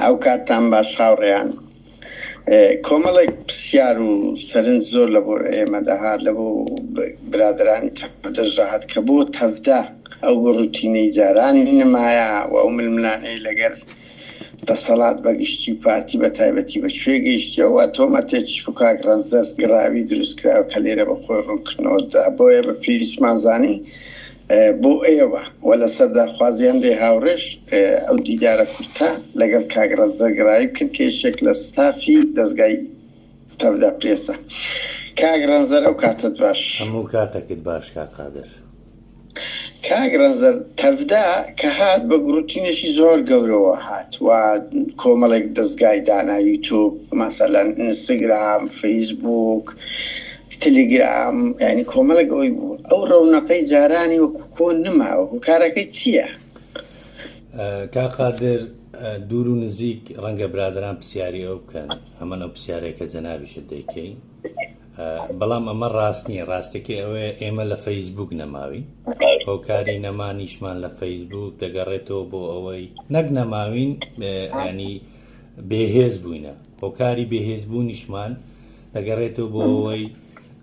ئەوکاتتان باش هاوڕێیان. کۆمەڵێک پرسیار و سەرنج زۆر لە بۆ ئێمە دەهات لە بۆ برادەرانی تەڤ دەشدەهات کە بۆ تەڤدا ئەو بە ڕوتینەی جارانی نمایە و ئەو ململانێی لەگەر دەسەڵات بە گشتی و پارتی بە تایبەتی بە کوێ گەیشتیە و تۆمەتێکیش بۆ کاک ڕەنجدەر گڕاوی دروست کراوە کە لێرە بە خۆی ڕوونکردنەوە دەدا بۆیە بە پێویستمان زانی بۆ ئێوە و لە سەرداخوازیان لێ هاوڕێش ئەو دیدارە کورتە لەگەڵ کاک ڕەزدە گرایی بکەن کە یەکێک لە ستافی دەزگای تەڤدا پرێسە. کاک ڕەنزەر ئەو کاتت باش. هەموو کاتەکت باش کاک قادر. کاک ڕەنزەر تەڤدا کە هات بە گڕوتینێکی زۆر گەورەوە هات و کۆمەڵێک دەزگای دانا یوتوب ماسەلەن ئینستگرام فەیسبووک تلیگرام یانی کۆمەڵێک ئەوەی بوو ئەو ڕەونەقەی جارانی وەکو کۆن نماوە هوکارەکەی چییە؟ کاک قادر دوور و نزیک ڕەنگە برادران پرسیاری ئەو بکەن ئەمە ئەو پرسیارەیە کە جەنابیشت دەیکەین بەڵام ئەمە ڕاست نییە ڕاستەکەی ئەوەیە ئێمە لە فەیسبوک نەماوین هۆکاری نەمانیشمان لە فەیسبوک دەگەڕێتەوە بۆ ئەوەی نەک نەماوین ینی بێهێز بووینە هۆکاری بێهێزبوونیشمان دەگەڕێتەوە بۆ ئەوەی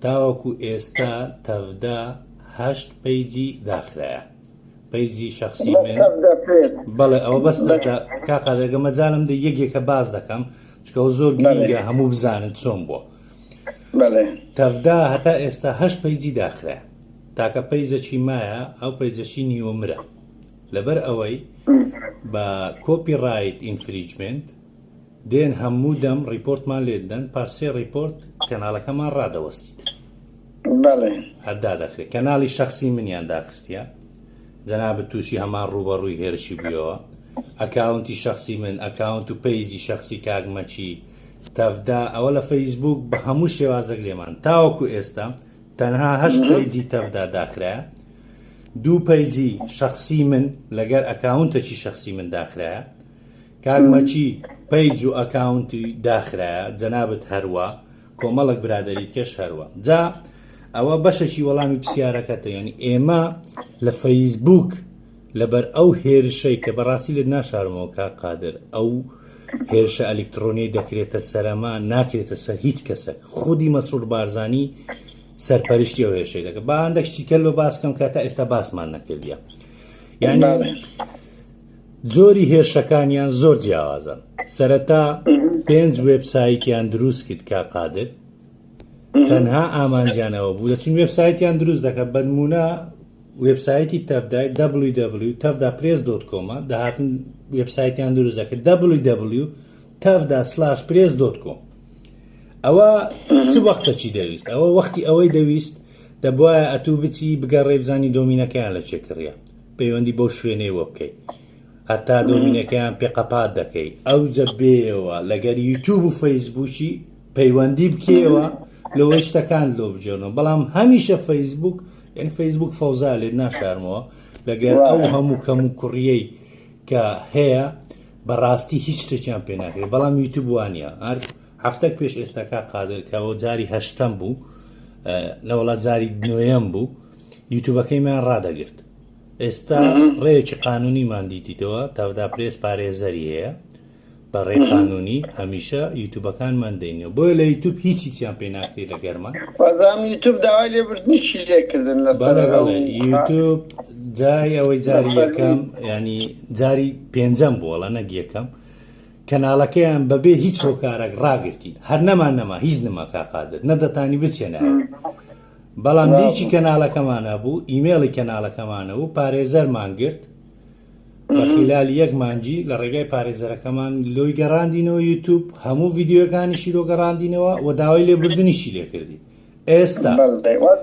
تاوەکو ئێستا تەڤدا هەشت پەیجی داخرایە پەیجی شخصی من بەڵێ ئەوە بەس کاقادەگە مەجالم دە یەکێکە باز دەکەم چکەەوە زۆر گرنگە هەموو بزانن چۆن بووە تەڤدا هەتا ئێستا هەشت پەیجی داخرا تاکە پەیجەکی مایە ئەو پەیجەشی نیوە مرە لەبەر ئەوەی بە کۆپی ڕایت ئینفریجمنت دێن هەموو دەم ڕیپۆرتمان لێ دەن پاش سێ ڕیپۆرت کەناڵەکەمان ڕادەوەستیت هەردا دەخرێت کەناڵی شخصی منیان داخستە جەناب تووشی هەمان ڕوبەڕووی هێرشی بووەوە ئەکاونتی شخصی من ئەکاونت و پەیجی شخصی کاگمەچی تەفدا ئەوە لە فەیسبوک بە هەموو شێوازەک لێمان تاوەکو ئێستا تەنها هەشت پەیجی تەفدا داخرە دوو پەیجی شخصی من لەگەر ئەکاونتەکی شخصی من داخرە کاک مەکی پەیج و ئەکاونتی داخرایە جەنابت هەروا کۆمەڵک برادەری کێش هەروا جا ئەوە بەشەشی وەڵامی پرسیارەکەتە یعنی ئێمە لە فەیسبوک لەبەر ئەو هێرشەی کە بەڕاستی لێت ناشارمەوە کا قادر ئەو هێرشە ئەلکترۆنی دەکرێتە سەرەما ناکرێتە سەر هیچ کەسەک خودی مەسرور بارزانی سەرپەرشتی ئەو هێرشەی دەکە باندەکشتی کەل بە باسکەم کە تا ئێستا باسمان نەکردە یعنی جۆری هێرشەکانیان زۆر جیاوازن سەرەتا پێنج وێبسایتیان دروست کرد کا قادر تەنها ئامانجیانەوە بوو دەچین وێبسایتیان دروست دەکە بەنمونە وێبسایتی تەفدای www تەفدا پرێس دۆت کۆمە داهاتن وێبسایتیان دروست دەکرد www تەفدا سلاش پرێس دۆت کۆم ئەوە چ وەختەچی دەویست ئەوە وەختی ئەوەی دەویست دەبواە ئەتوو بچی بگەڕێ بزانی دۆمینەکەیان لە چێکڕە پەیوەندی بەو شوێنەیەوە بکەی هەتا دۆمینەکەیان پێ قەپات دەکەی ئەوجە بێەوە لەگەر یوتوب و فەیسبووکی پەیوەندی بکەوە لەوەی شتەکان لۆ بجێنەوە بەڵام هەمیشە فەیسبوک یعنی فەیسبوک فەوزا لێت ناشارمەوە لەگەر ئەو هەموو کەم و کوڕیەی کە هەیە بەڕاستی هیچ شتێکیان پێ ناکرێت بەڵام یوتوب وانە هەر هەفتەک پێش ئێستاکە قادرکەەوە جاری هەشتم بوو نەوەڵات جاری نوێم بوو یوتوبەکەیمان ڕادەگرت ئێستا ڕێکی قانونیمان دیتیتەوە تادا پرێس پارێزەری هەیە بە ڕێ قانونی هەمیشە یوتوبەکانمان دەینەوە بۆیە لە یوتوب هیچی چیان پێ ناکری لە گەرمە یوتوب داوای لێبردنیشی لێکردن لە یوتوب جای ئەوەی جاری یەکەم ینی جاری پێنجەم بووە لە نەگ یەکەم کەناڵەکەیان بەبێ هیچ هۆکارێک ڕاگرتین هەر نەمان نەما هیچ نما کاقادر نەدەتانی بچێنە بەڵام لینکی کەناڵەکەمان ئەبوو ئیمێڵی کەناڵەکەمان ئەبوو پارێزەرمان گرت بە خیلالی یەک مانگی لە ڕێگای پارێزەرەکەمان لۆی گەڕاندینەوە یوتوب هەموو ڤیدیۆکانیشی لۆ گەڕاندینەوە و داوای لێبوردنیشی لێ کردین ئێستا بەڵێ دەیوەت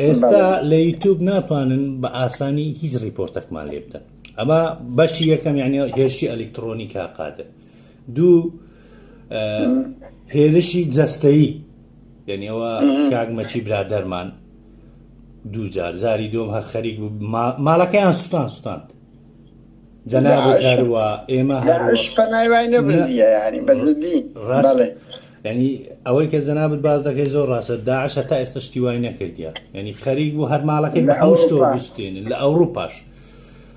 ئێستا بەڵێ. لە یوتوب ناتوانن بە ئاسانی هیچ ڕیپۆرتەکمان لێ بدەن ئەمە بەشی یەکەم یعنی هێرشی ئەلیکتڕۆنی کا قادر دوو هێرشی جەستەیی لەنێوە کاگمەچی برادەرمان دوو جار زاری دۆم هەر خەریک بوو ماڵەکەیان سوستان سوستاند جەناب هەروە ئێمە ڕاستڵێ ینی ئەوەی کە جەنابەت باز دەکەی زۆر ڕاستە داعش هەتا ئێستا شتیوای نەکردە ینی خەریک بوو هەرماڵەکەی بە هەموو شتۆ بستێنن لە ئەوروپاش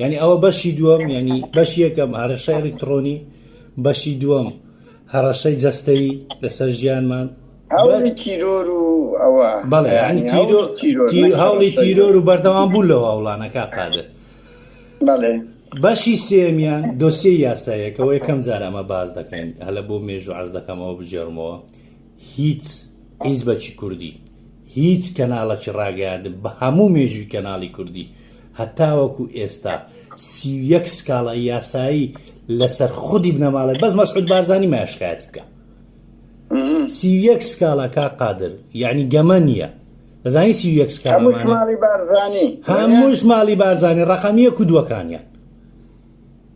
یانی ئەوە بەشی دووەم یانی بەش یەکەم هەرشای ئەلکترۆنی بەشی دووەم هەڕەشەی جەستەیی لەسەر ژیانمان هەوڵی تیرۆر و ئەوە بەڵێ هەوڵی تیرۆر و بەردەوام بوو لەو هەوڵانەکە قادر بەڵێ بەشی سێمیان دۆسیە یاسایەکەەوە یەکەم جار ئەمە باز دەکەین هەلە بۆ مێژوو عز دەکەمەوە بجێڕمەوە هیچ حیزبەکی کوردی، هیچ کەناڵەکی ڕاگەیاندن بە هەموو مێژووی کەناڵی کوردی هەتاوەکو ئێستا سی و یەک سکاڵای یاسایی لەسەر خودی بنەماڵەی بەس مەسعود بارزانی مایە شکایەتی بکە سی و یەک سکاڵا کا قادر یعنی گەمە نییە دەزانی سی و یەک سکاڵا هەموو مانە شماڵی بارزانی هەمووش ماڵی بارزانانی ڕقم یەک و دووەکانیان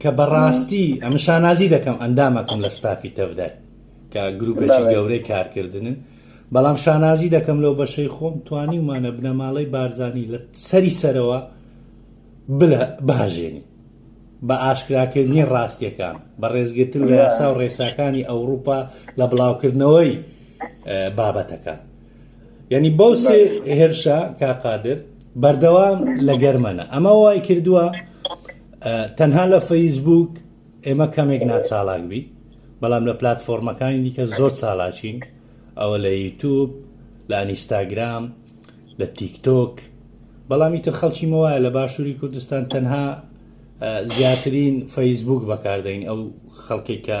کە بەڕاستی ئەمە شانازی دەکەم ئەندامەکەم لە ستافی تەفدای کە گروپێکی گەورەی کارکردنن بەڵام شانازی دەکەم لەو بەشەی خۆم توانی ومانە بنەماڵەی بارزانانی لە سەری سەرەوە بلە باژێنی بە ئاشکراکردنی ڕاستیەکان بە ڕێزگرتن لە یاسا و ڕێساکانی ئەوروپا لە بڵاوکردنەوەی بابەتەکان یعنی بەو سێ هێرشە کاقادر بەردەوام لە گەرمەنە ئەمە وای کردووە تەنها لە فەیسبووک ئێمە کەمێک ناچالاک بین بەڵام لە پلاتفۆرمەکانی دیکە زۆر چالاچین ئەوە لە یوتوب لە ئەنیستاگرام لە تیکتۆک بەڵامی تر خەڵکی مەوایە لە باشووری کوردستان تەنها زیاترین فەیسبوک بەکاردەین ئەو خەڵکێک کە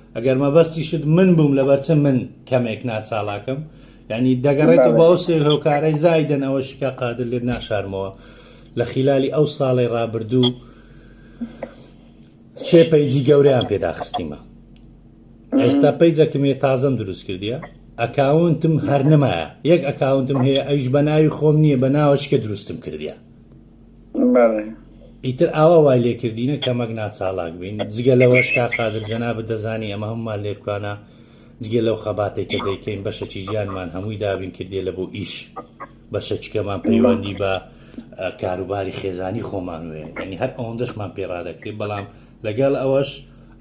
ئەگەر مەبەستیشت من بووم لەبەر چ من کەمێک ناچاڵاکم یعنی دەگەڕێتەوە بە ئەو سێ هۆکارەی زایدن ئەوە شکا قادر لێت ناشارمەوە لە خلالی ئەو ساڵی ڕابردوو سێ پەیجی گەوریان پێداخستیمە ئێستا پەیجەکمێ تازەم دروست کردیە ئەکاونتم هەر نمایە یەک ئەکاونتم هەیە ئەیش بە ناوی خۆم نییە بە ناوەچکە دروستم کردیە بەڵێ. ئیتر ئاوا وای لێ کردینە کە مەگنا چاڵاک بین، جگە لەوەش کا قادر جەنابت دەزانی ئەمە هەموومان لێرکوانە جگە لەو خەباتەی کە دەیکەین بەشەکی ژیانمان هەمووی دابین کردیە لە بۆ ئیش بەشەکیکەمان پەیوەندی بە کاروباری خێزانی خۆمان وێ یعنی هەر ئەوەندەشمان پێڕادەکری بەڵام لەگەڵ ئەوەش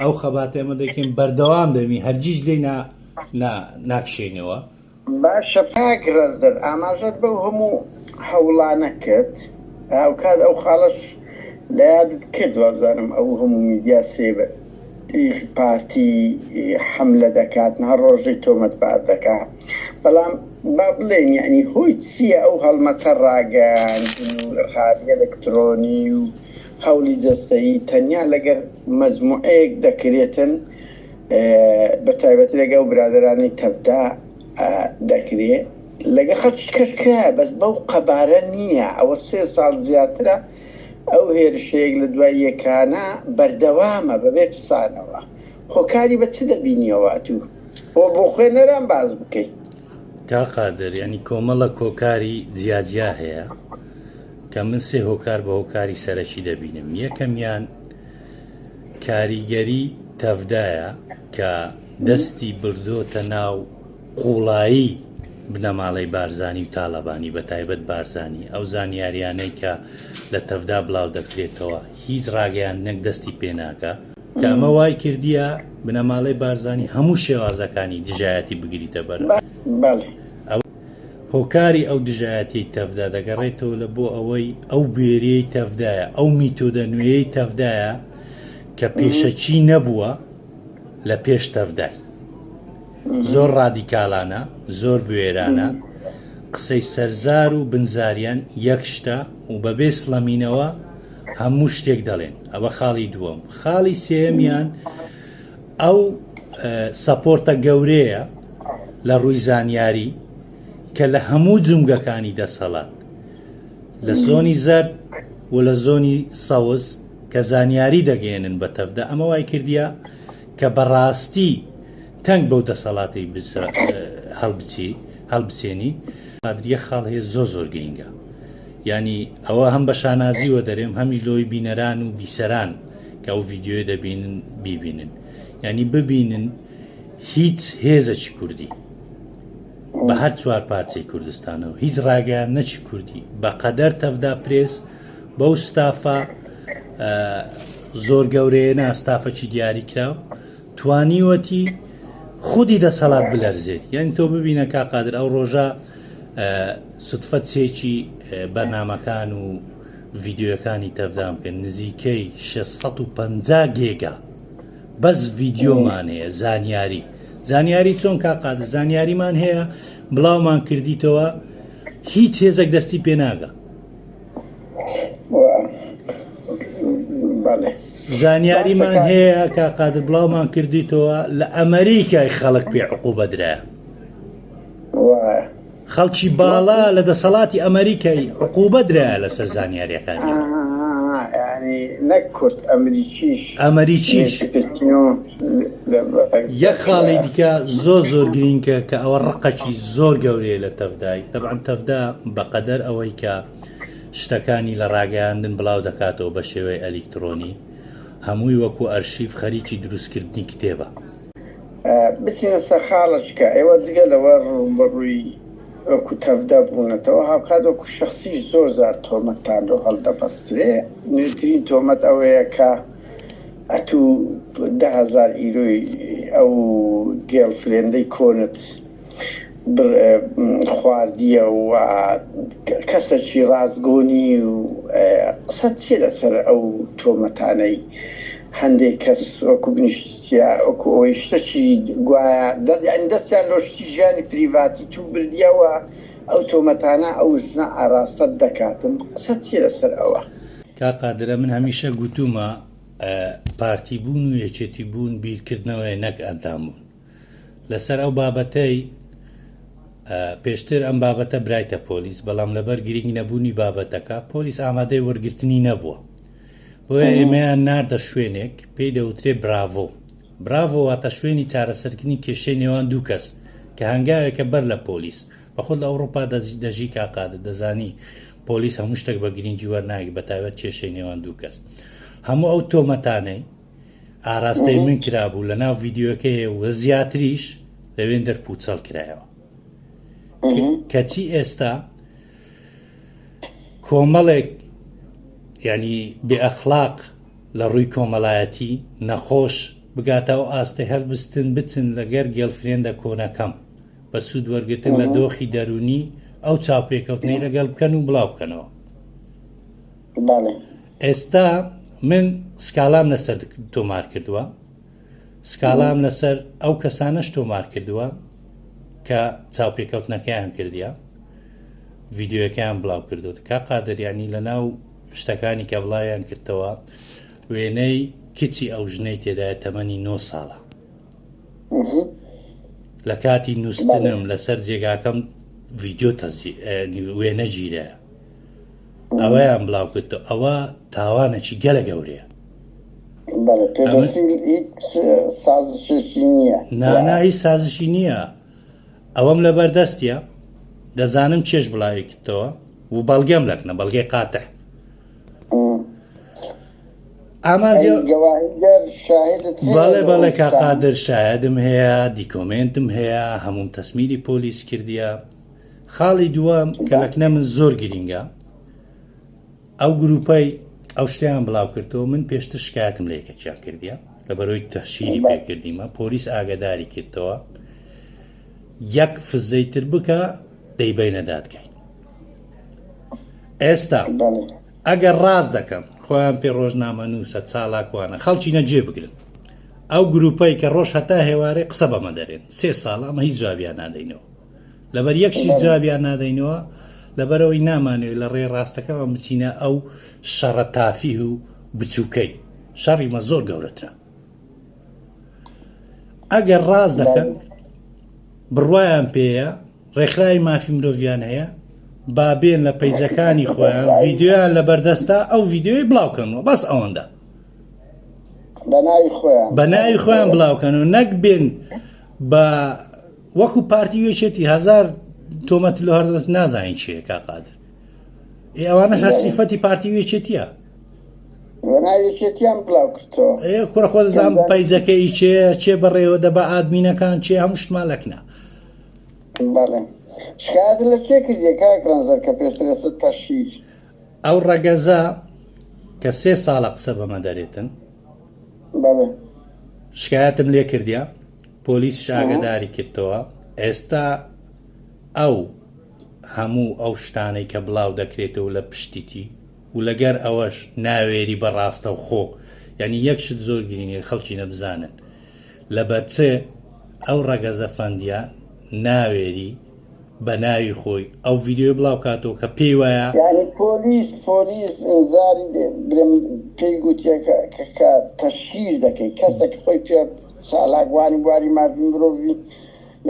ئەو خەباتێمە دەکەین بەردەوام دەبین هەرگیز لێ ناکشێنەوە باشە کاک ڕەزدەر ئاماژەت بەو هەموو هەوڵانە کرد هاوکات ئەو خاڵەش لە یادت کرد وابزانم ئەو هەموو میدیا سێ ی پارتی حەملە دەکات نها ڕۆژەی تۆمەتبار دەکا بەڵام با بڵێن یەعنی هۆی چیە ئەو هەڵمەتە ڕاگەیاندن و ئرهابی ئەلکترۆنی و هەوڵی جەستەیی تەنیا لەگەر مەجموعەیەک دەکرێتن بەتایبەتی لەگەڵ برادەرانی تەڤدا دەکرێ لەگە خەڵکی کەش کرایە بەس بەو قەبارە نییە ئەوە سێ ساڵ زیاترە ئەو هێرشەیەک لە دوای یەکانە بەردەوامە بەبێ پسانەوە هۆکاری بە چ دەبینیەوە ئەتوو بۆ بۆ خوێنەران باز بکەیت کا قادر ینی کۆمەڵە کۆکاری جیاجیا هەیە کە من سێ هۆکار بە هۆکاری سەرەکی دەبینم یەکەمیان کاریگەری تەڤدایە کە دەستی بردۆتە ناو قوڵایی بنەماڵەی بارزانی و تاالبانی بە تایبەت بارزانانی ئەو زانیاریانەی کە لە تەڤدا بڵاو دەکرێتەوە هیچ ڕاگەیان نەک دەستی پێناکە کامە وای کردیە بنەماڵەی بارزانانی هەموو شێوازەکانی دژایەتی بگریتە بەر ئەو هۆکاری ئەو دژایەتیەی تەڤدا دەگەڕێتەوە لە بۆ ئەوەی ئەو بوێریەی تەڤدایە، ئەو میتۆدە نوێیەی تەڤدایە کە پێشەکی نەبووە لە پێش تەڤدای. زۆر ڕادیکالانە، زۆر بوێرانە، قسەی سەرزار و بنزاریان یەک شتە و بەبێ سڵەمینەوە هەموو شتێک دەڵێن. ئەوە خاڵی دووەم. خاڵی سێیەمیان، ئەو سەپۆرتە گەورەیە لە ڕووی زانیاری کە لە هەموو جومگەکانی دەسەڵات لە زۆنی زەرد و لە زۆنی سەوز کە زانیاری دەگەێنن بە تەفدا ئەمە وای کردیا کە بەڕاستی تەنگ بەو دەسەڵاتی هەڵبچی هەڵبچێنی قادریە خاڵ هەیە زۆ زۆر گرینگە ینی ئەوە هەم بە شانازیوە دەرێم هەمیش لەوەی بینەران و بیسەران کە ئەو ڤیدیۆیە دەبینن بیبینن یعنی ببینن هیچ هێزەکی کوردی بە هەر چوار پارچەی کوردستانەوە هیچ ڕاگەیان نەچی کوردی بە قەدەر تەفدا پرێس بەو ستافە زۆر گەورەیە ناستافەکی دیاری کراو توانیوەتی خودی دەسەڵات بلەرزێت یعنی تۆ ببینە کا قادر ئەو ڕۆژە سوتفەت سێکی بەرنمەکان و ڤیدیۆیەکانی تەڤدان بکەن نزیکەی شەش سەد و پەنجا گێگا بەس ڤیدیۆمان هەیە زانیاری زانیاری چۆن کا قادر زانیاریمان هەیە بڵاومان کردیتەوە هیچ هێزێک دەستی پێناگە زانیاریمان هەیە کا قادر بڵاومان کردیتەوە لە ئەمریکای خەڵک پێ عقوبەدرایە خەڵکی باڵا لە دەسەڵاتی ئەمەریکای عقوبە درایە لەسەر زانیاریەکانی من. ئەمەریکیش یەک خاڵی دیکە زۆر زۆر گرینکە کە ئەوە ڕقەکی زۆر گەورەیە لە تەڤدای تەبعەن تەڤدا بەقەدەر ئەوەی کە شتەکانی لە ڕاگەیاندن بڵاو دەکاتەوە بە شێوەی ئەلیکترۆنی هەمووی وەکو ئەرشیف خەریکی دروستکردنی کتێبە بچینە سەر خاڵەکە، ئێوە جگە لەوە ڕووبەڕووی وەکو تەڤدا بوونەتەوە، هاوکات وەکو شەخسیش زۆر جار تۆمەتتان لۆ هەڵدەبەسترێ، نوێترین تۆمەت ئەوەیە کە ئەتوو دە هەزار ئیرۆی ئەو گێڵ فرێندەی کۆنت، خواردیە و کەسەکی ڕاستگۆ نی و قسەت چیە لەسەر ئەو تۆمەتانەی هەندێک کەس وەکو بنیشتیە وەکو ئەوەی شتەکی گوایە یانی دەستیان لۆ شتی ژیانی پریڤاتی تو بردیە و ئەو تۆمەتانە ئەو ژنە ئاراستەت دەکاتن قسەت چیە لەسەر ئەوە. کاک قادرە من هەمیشە گوتومە پارتی بوون و یەکێتی بوون بیرکردنەوەیە نەک ئەندام بوون. لەسەر ئەو بابەتەی پێشتر ئەم بابەتە برایتە پۆلیس بەڵام لەبەر گرنگ نەبوونی بابەتەکە پۆلیس ئامادەی وەرگرتنی نەبووە بۆیە ئێمەیان ناردە شوێنێک پێی دەوترێ براڤۆ براڤۆ واتە شوێنی چارەسەرکردنی کێشەی نێوان دوو کەس کە هەنگاوێکە بەر لە پۆلیس بەخود لە ئەوروپا دەژی کاقادە دەزانی پۆلیس هەموو شتێک بە گرنگی وەرناگی بەتابەت کێشەی نێوان دوو کەس هەموو ئەو تۆمەتانەی ئاراستەی من کرابوو لە ناو ڤیددیوەکەی و زیاتریش لەوێن دەر پوچەڵ کرایەوە کەچی ئێستا کۆمەڵێک ینی بێئەخلاق لە ڕووی کۆمەلایەتی نەخۆش بگاتە و ئاستە هەلبستن بچن لەگەر گێلفرێندە کۆنەکەم بە سوود وەرگتن لە دۆخی دەرونی ئەو چاپێکەوتنی لەگەڵ بکەن و بڵاو بکەنەوە بەڵێ. ئێستا من سکالام لەسەر تۆمار کردووە سکالام لەسەر ئەو کەسانەش تۆمار کردووە کە چاوپێکەوتنەکەیان کردیا ڤیددیوەکەیان بڵاو کردو کا قادریانی لە ناو شتەکانی کە بڵاویان کردەوە وێنەی کچی ئەو ژنەی تێدای تەمەنی 9 ساڵە لە کاتی نووسنم لەسەر جێگاکەم ڤیددیو تەسی وێنە گیرە ئەوەیان بڵاو کرد ئەوە تاوانەکی گەلە گەورەیە نانایی سازشی نییە ئەوەم لە بەردەستە دەزانم چێش بڵاوی کردەوە و بەڵگەم لەکنە بەڵگەی قاتە بەڵێ بەڵێ کاقادر شایدم هەیە دیکۆمنتم هەیە هەموم تەسمیری پۆلیس کردیە خاڵی دووەم کە لەکنە من زۆر گرینگە ئەو گروپەی ئەو شتیان بڵاو کردەوە من پێشتر شکایتم لە یەکەچیان کردیە لە بەرۆی تەشیری پێکردیمە پۆلیس ئاگداری کردەوە یەک فزەی تر بکە دەیبینە دادگای ئێستا ئەگەر ڕاز دەکەم خۆیان پێ ڕۆژنامە نووسە چالاکوانە خەڵکی نەجێ بگرن ئەو گروپەی کە ڕۆژ هەتا هێوارێ قسە بەمە دەرێن سێ ساڵ ئەمە هیچ جوابیان نادەینەوە لەبەر یەک شت جوابیان نادەینەوە لەبەرەوەی نامانەوێت لە ڕێ ڕاستەکەمان بچینە ئەو شەڕە تافیه و بچووکەی شەڕیمە زۆر گەورەترە ئەگەر ڕاز دەکەن بڕواان پێەیە ڕێکخراوی مافی مرۆڤیان هەیە بابێن لە پەیجەکانی خۆیان ڤیددیویان لە بەردەستا ئەو ڤیددیوی بڵاوکەنەوە بەس ئەوەندە بە ناوی خۆیان بڵاوکەن و نەک بێن بە وەکو پارتی و یەکێتی هزار تۆمەت لە هەردەست نازانین چیە کا قادر ئێ ئەوانە هەر سیفەتی پارتی و یەکێتیە ناوێکێتیان بڵاو کردەوە ئێ کوڕە خۆ دەزان پایجەکەی چێ چێ بەڕێوە دەبا ئادمینەکان چێ هەموو شتمان لەکنە بەڵێ شکایەت لە کێ کردی کاک ڕەنزەر کە پێشتر ئێستا تەشیر ئەو ڕەگەزە کە سێ ساڵە قسە بەمە دەرێتن بەڵێ شکایەتم لێ کردیا پۆلیسیش ئاگەداری کردەوە، ئێستا ئەو هەموو ئەو شتانەی کە بڵاو دەکرێتەوە لە پشتیتی و لەگەر ئەوەش ناوێری بە ڕاستەوخۆ یانی یەک شت زۆر گرینگە خەڵکی نەبزانن لەبەر چ ئەو ڕەگەزە فەندیە ناوێری بە ناوی خۆی ئەو ڤیدیۆی بڵاو کاتەوە کە پێی وایە یعنی پۆلیس پۆلیس ئینزاری دێ برێم پێی گوتیە کە کە تەشهیر دەکەی کەسە کە خۆی پێ چالاکوانی بواری مافی مرۆڤی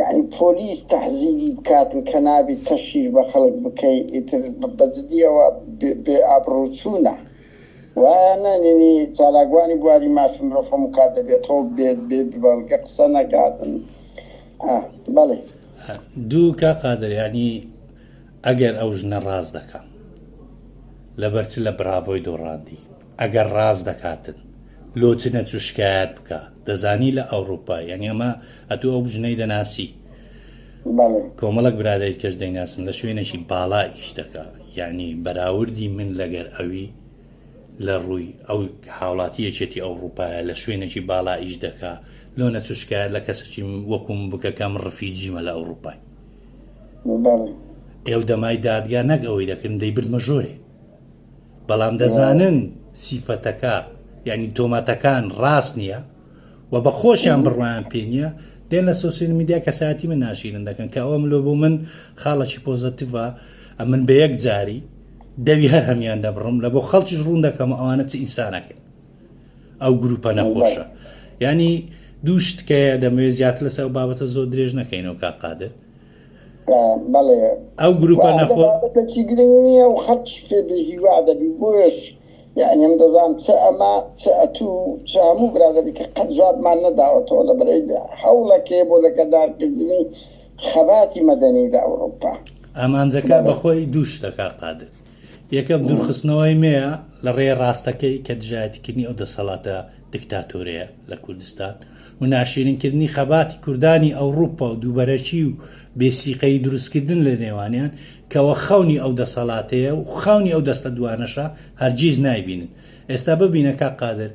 یعنی پۆلیس تەحزیری بکاتن کە نابی تەشیر بە خەڵک بکەی ئیتر بە جدیەوە بێ ئابڕوچوونە وایە نەنینی چالاکوانی بواری مافی مرۆڤ هەموو کات دەبێتەوە بێت بێ بەڵگە قسە نەکاتن. دوو کا قادر یانی ئەگەر ئەو ژنە ڕاست دەکا لەبەر چ لە براڤۆی دۆڕاندی ئەگەر ڕاست دەکاتن لۆ چ نەچوو شکایەت بکە دەزانی لە ئەوروپا یعنی ئەمە ئەتوو ئەو بژنەی دەناسی کۆمەڵک برادری کەش دەیناسن لە شوێنێکی باڵا ئیش دەکا یعنی بەراوردی من لەگەر ئەوی لە ڕووی ئەو هاوڵاتی یەکێتی ئەوڕوپایە لە شوێنێکی باڵا ئیش دەکا لۆ نەچوو شکایەت لە کەسەکی وەکو من بکە کە من ڕفیجیمە لە ئەوڕوپای ئێو دەمای دادگا نەک ئەوەی دەکردن دەیبردمە ژۆرێ بەڵام دەزانن سیفەتەکە یعنی تۆمەتەکان ڕاست نییە و بە خۆشیان بڕوایان پێ نیە دێن لە سۆسیل میدیا کەسایەتی من ناشیرن دەکەن کە ئەوە ملۆ بۆ من خاڵەکی پۆزەتیڤە ئەمن بە یەک جاری دەوی هەر هەمیان دەبڕم لە بۆ خەڵکیش ڕوون دەکەم ئەوانە چ ئینسانەکەن ئەو گروپە نەخۆشە ینی دوو شتکەیە دەمەوێت زیاتر لەسەر بابەتە زۆر درێژ نەکەینەوە کا قادر ئەو گروپە نەخۆ گرنگ نییە و خەڵکی پێ بێ هیوا دەبی بۆش یەعنی ئەم دەزانم چ ئەمە چ ئەتوو و چ هەموو برادەرێک کە قەت جوابمان نەداوەتەوە لەبەرەی هەوڵەکەی بۆ لەکەدارکردنی خەباتی مەدەنی لە ئەوروپا. ئامانجەکە بە خۆی دوو شتە کاک قادر، یەکەم دوورخستنەوەی مێیە لە ڕێ ڕاستەکەی کە دژایەتیکردنی ئەو دەسەڵاتە دکتاتۆرەیە لە کوردستان، وناشیرینکردنی خەباتی کوردانی ئەوڕوپا و دووبەرەکی و بێ سیقەیی دروستکردن لە نێوانیان کەوە خەونی ئەو دەسەڵاتەیە و خەونی ئەو دەستە دوانەشە هەرگیز نایبینن ئێستا ببینە کاک قادر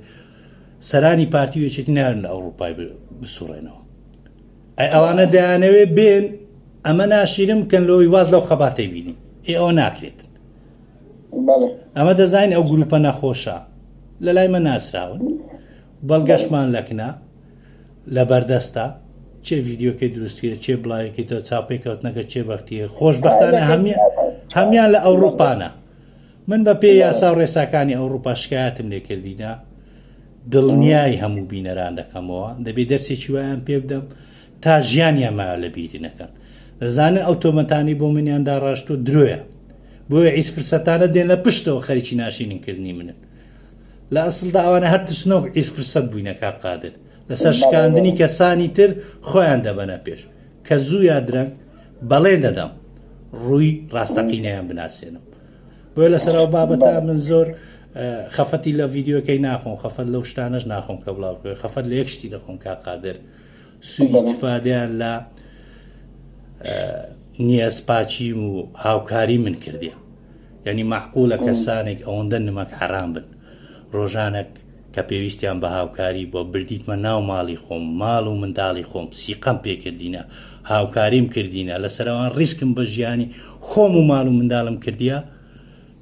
سەرانی پارتی و یەکێتی نایەن لە ئەوڕوپای بسوڕێنەوە ئەی ئەوانە دەیانەوێ بێن ئەمە ناشیرم کەن لەوەی واز لەو خەباتەی بینین ئێ ئەوە ناکرێت ئەمە دەزانین ئەو گروپە نەخۆشە لە لای مە ناسراون بەڵگەشمان لەکنە لەبەردەستە چێ ڤیدیۆکەی دروستکرێت چێ بڵاوێکی تۆ چاپێک کەوتنەکە چێ بەختیە خۆشببختانە هەمی هەمان لە ئەوروپانە من بە پێ یاسا و ڕێساکانی ئەوروپا شکایەتم لێکردینە دڵنیای هەموو بینەران دەکەمەوە دەبێت دەرسێکی وایان پێ بدەم تا ژیانیان ما لە بیری نەکەن دەزانن ئەو تۆمەتانی بۆ منیان داڕاشت و درۆیە بۆیە ئیس فرسەتانە دێن لە پشتەوە خەریکی ناشیننکردنی منن لە ئەسڵدا ئەوانە هەر ترسنۆک ئیس فرسەت بووینە کاک قادر لەسەر شکاندنی کەسانی تر خۆیان دەبەنە پێش کە زوو یا درەنگ بەڵێن دەدەم ڕووی ڕاستەقینەیان بناسیێنم بۆیە لەسەر ئەو بابەتا من زۆر خەفەتی لە ڤیددیوەکەی ناخۆم خەفەت لەو شتانەش ناخۆم کە بڵاو بکە خەفەت لە یەکشتی دەخۆم کا قادر سوئیسفادیان لە نیەسپاچیم و هاوکاری من کردیان یانی مەعقولە کەسانێک ئەوەندە نمەک حەرام بن ڕۆژانەک کە پێویستیان بە هاوکاری بووە بردیتمە ناو ماڵی خۆم ماڵ و منداڵی خۆم سیقەم پێکردینە هاوکاریم کردینە لەسەرەوان ڕیسکم بە ژیانی خۆم و ماڵ و منداڵم کردیە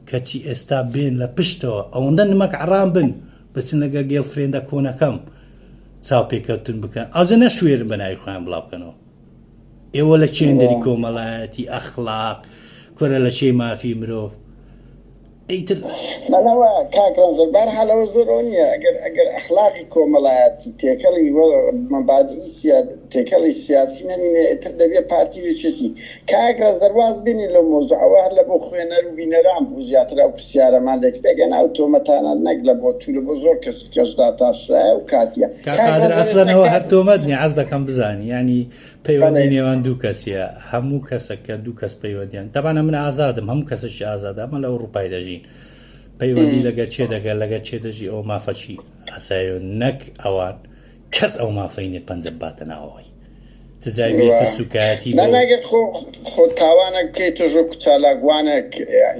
کەچی ئێستا بێن لە پشتەوە ئەوەندە نمەک عڕام بن بچن لەگە گێڵ فرێندە کۆنەکەم چاو پێکەوتن بکەن ئاجە نەشوێرن بە ناوی خۆیان بڵاوکەنەوە ئێوە لە چێندری کۆمەڵایەتی ئەخلاق کورە لە چێی مافی مرۆڤ ئەیتر بەڵەوە کاکڕەنزەر بار حالەوە زۆرەوە نییە ئەگەر ئەگەر ئەخلاقی کۆمەڵایەتی تێکەڵی مەبادی سیاد تێکەڵی سیاسی نەمینێ ئێتر دەبێ پارتی وێچێتی کاکرە زەرواز بینی لە مۆزە ئەوە هەر لە بۆ خوێنەر و بینەران بوو زیاتر ئەو پرسیارەمان لێکردەگەن ئەو تۆمەتانە نەک لە بۆ تو لە بۆ زۆر کەس جەژ داتاشرایە و کاتیە. کاک قادر ئەسلەن ئەوە هەر تۆمەت نیە حەز دەکەم بزانی یانی پەیوەندی نێوان دوو کەسیە هەموو کەسەک کە دوو کەس پەیوەندیان تەبانە من ئازادم هەموو کەسەکی ئازاد ئەمە لە ئەوروپای دەژین پەیوەندی لەگە چێ دەگەر لەگە چێ دەژی ئەو مافەکی ئەسایۆن نەک ئەوان کەس ئەو مافەی نێ پەنجە بباتە ناوەوەی چ جای بێتە سوکایەتی ناگەر خۆ خۆ تاوانە بکەیت تۆ ژۆ کوچالاگوانێک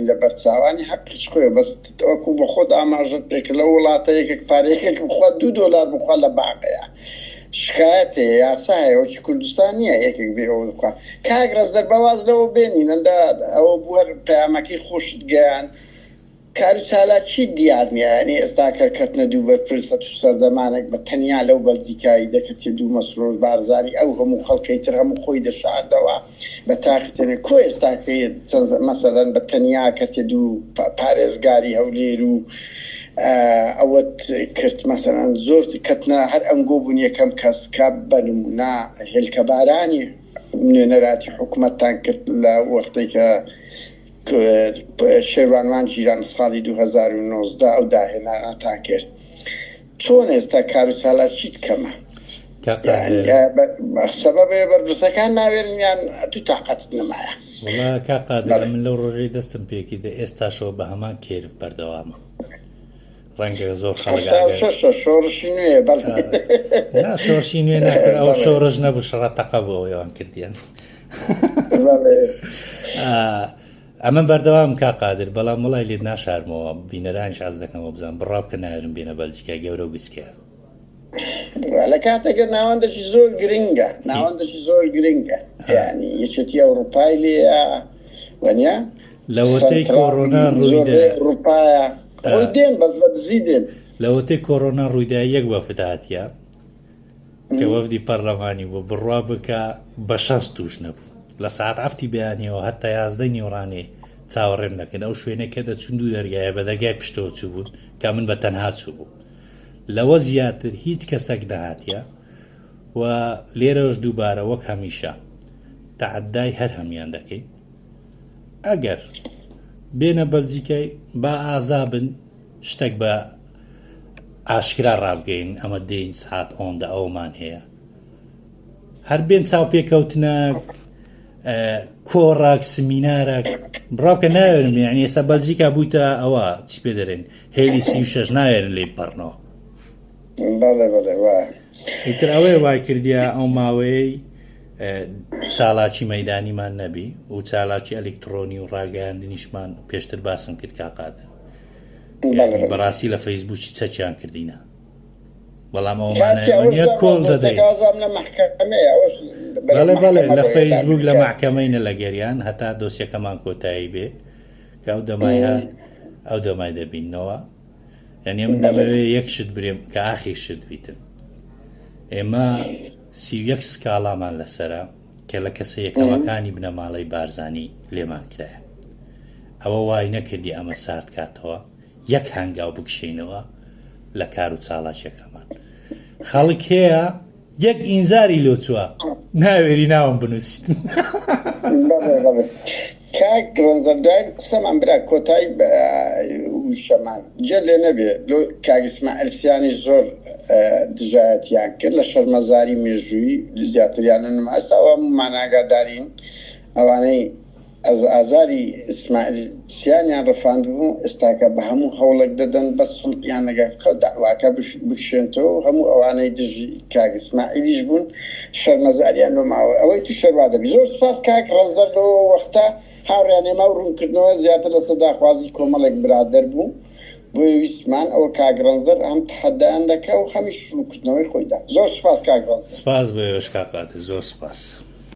لە بەرچاوانی حەقیش خۆێ بەس تەوەکو بە خۆت ئاماژەت پێک لە وڵاتە یەکێک پارێکێک بخوا دوو دۆلار بخوا لە باقەیە شکایەت هەیە یاسا هەیە وەکی کوردستان نییە یەکێک بێ ئەوە بخوا کاک ڕێز دەرباز لەوە بێنینەدا ئەوە بووە پەیامەکەی خۆشت گەیان کار و چالاکی دیار نیە یانی ئێستا کە کەتنە دوو بەرپرس هەتو سەردەمانەک بە تەنیا لەو بەلجیکا ی دەکەتیە دوو مەسرور بارزانی ئەو هەموو خەلکەی تر هەموو خۆی دەشاردەوە بە تاقی تەنیا کۆ ئێستا کە چەند مەسەلەن بە تەنیا کەتیە دوو پارێزگاری هەولێر و ئەوەت کرد مەسەلەن زۆر کەتنە هەر ئەنگۆ بوون یەکەم کەس کە بە نمونە هێلکەبارانی نوێنەراتی حکومەتتان کرد لە وەختەی کە شێروانوان جیران ساڵی دوو هەزار و نۆزدە ئەو داهێنانەتان کرد چۆن ئێستا کارو چالاکیت کەمە سەبەبێ بەرپرسەکان ناوێرن یان تو تاقەتت نەمایە وڵا کاقادر من لەو ڕۆژەی دەستم پێکردە ئێستاشەوە بە هەمان کێرف بەردەوامە. ڕەنگە زۆر خەڵک هەشتا و ئاگای شەشە شۆڕشی نوێ بەڵێ نا شۆڕشی نوێ ناکرد ئەو بەڵێ شۆڕش نەبوو شەڕە تەقە بوو ئەوێوان کردیان بەڵێ ئەمە بەردەوام کا قادر بەڵام وڵای لێت ناشارمەوە بینەرانیش حەز دەکەمەوە بزان بڕاو کە نایرم بێنە بەلجیکای گەورە و گچکەیە لە کاتێکە ناوەندەکی زۆر گرنگە ناوەندەکی زۆر گرنگە ینی یەکێتی ئەوروپای لێ وەنیا لەوەتەی کۆڕۆنا ڕووپایە خۆی دێن بەس بە دزی دێن لەوەتەی کۆرۆنا ڕوویدا یەک وەفداتە کە وەفدی پەرلەمانی بۆ بڕوا بکە بە شەست توش نەبوو لە ساعت ئەفتی بەیانەوە هەتا یازدە نیوڕانێ چاوەڕێم دەکەن ئەو شوێنێکە دەچون دوو دەرگایە بە دەرگای پشتەوە چوو بوون کە من بە تەنها چوو بوو لەوە زیاتر هیچ کەسەک نەهاتیە و لێرەوەش دووبارە وەک هەمیشە تەعدای هەر هەمیان دەکەین ئەگەر بێنە بەلجیکای با ئازابن شتێک بە ئاشکرا ڕابگەین ئەمە دێین سعات ئۆندە ئەومان هەیە هەر بێن چاوپێکەوتنە کۆڕاک سمینارە بڕاوکە ناوێنم یعنی ئێستا بەلجیکا بوویتە ئەوە چی پێ دەرێن هێلی سی و شەش ناوێرن لێی بپەڕنەوە بەڵێ بەڵێ وایە ئیتر ئەوەیە وای کردیا ئەو ماوەیەی چالاکی مەدانیمان نەبی و چالاکی ئەلکترۆنی و ڕاگەیاندنیشمان پێشتر باسم کرد کاقادە بەڕاستی لە فەیسبووکی چەکیان کردینە بەڵام ئەومانە کۆڵ دەدەیت بەڵێ بەڵێ لە فەیسبوک لە محکەمەینە لە گەریان هەتا دۆسیەکەمان کۆتایی بێ کە ئەو دەمای هات ئەو دەمای دەبینەوە یعنی من دەمەوێ یەک شت برێم کە ئاخی شت بیتن ئێمە سی یەک سکاڵامان لەسرە کە لە کەسە یەکەمەکانی بنەماڵەی بارزانی لێمان کرایە ئەوە وای نەکردی ئەمە سارد کاتەوە یەک هەنگاو بکشینەوە لە کار و چاڵاکیەکەمان خەڵکەیە یەک ئینزاری لۆ چوە ناوێری ناوم بنوسیت. کاک ڕەنجە دوای قسەمان برا کۆتای وشەمان جێ لێ نەبێ لۆ کاک ئیسماعیل سیانی زۆر دژایەتیان کرد لە شەرمەزاری مێژووی زیاتریان نما ئێستا ئەوە هەموومان ئاگادارین ئەوانەی ئەز ئازاری ئیسماعیل سیانیان ڕفاندبوو، ئێستاکە بە هەموو هەوڵێک دەدەن بەس خولقیان لەگەر خەو دەعواکە بکشێنتەوە و هەموو ئەوانەی دژی کاک ئیسماعیلیش بوون شەرمەزاریان لۆ ماوە ئەوەی تو شەروا دەبی. زۆر سوپاس کاک ڕەنجدەر لۆ وەختە هاوڕێیان ئێمە ئەو ڕوونکردنەوە زیاتر لەسەر داخوازی کۆمەڵێک برادەر بوو بۆیە ویستمان ئەوە کاک ڕەنجدەر هەم تەحەدایان دەکا و هەمیش ڕوونکردنەوەی خۆی دا. زۆر سوپاس کاک ڕەنجدەر. سپاس بۆ ئێوەش کاک قادر زۆر سپاس.